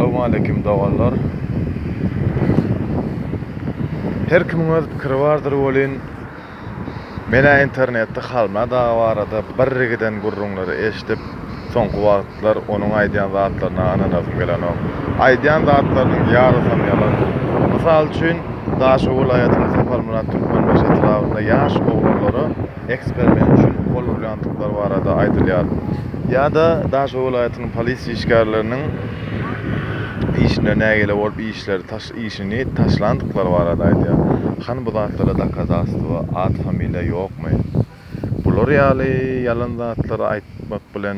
Salowmaleýkim doganlar. Her kimiň öz pikiri bardyr welin, men-ä internetde Halmyrat aga barada birgiden gürrüňleri eşidip, soňky wagtlar onuň aýdýan zatlaryna ynanasym gelenok. Aýdýan zatlarynyň ýarysam ýalan. Mysal üçin, Daşoguz welaýatynyň Saparmyrat Türkmenbaşy etrabynda ýaş oglanlara, eksperiment üçin gol urýandyklary barada aýdylýar. Ýa-da Daşoguz welaýatynyň polisiýa işgärleriniň işine nägile bolup işleri taş işini taşlandyklary barada aýdýar. Hany bu zatlara dokazastwo, at-familiýa ýokmy? Bular ýaly ýalan zatlary aýtmak bilen.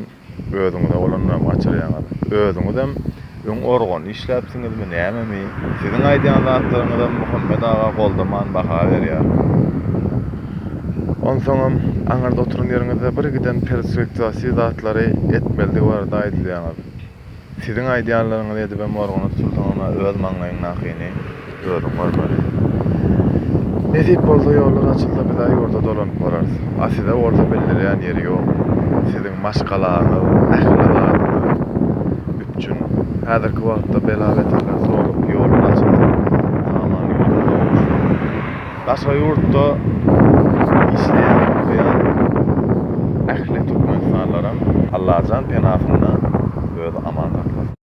Özüňize bolanynam gaçyrýaňyz. Özüňizem öň organ işläpsiňizmi, nämemi? Siziň aýdýan zatlaryňyzam Muhammet aga goldaman baha berýär. Onsoňam, aňyrda oturan ýeriňizde birgiden perspektiwasyz zatlary etmelidigi barada aýdylýaňyz. Siziň aýdýanlaryňyzy edibem organa tutulsaňam-a öz maňlaýyňdakyny özüň görmeli. Nesip bolsa ýollar açylsa biz-ä ýurda dolanyp bararys. A size bolsa bildirýän ýeri ýok. Siziň maşgalaňyz, ähli zadyňyz üpjün. Häzirki wagtda bela-beterler solup, ýollar açylsa, saman ýurda dolunsyn. Daşary ýurtda işleýän, okaýan ähli türkmenistanlaram Allajan penasynda özi aman saklasyn.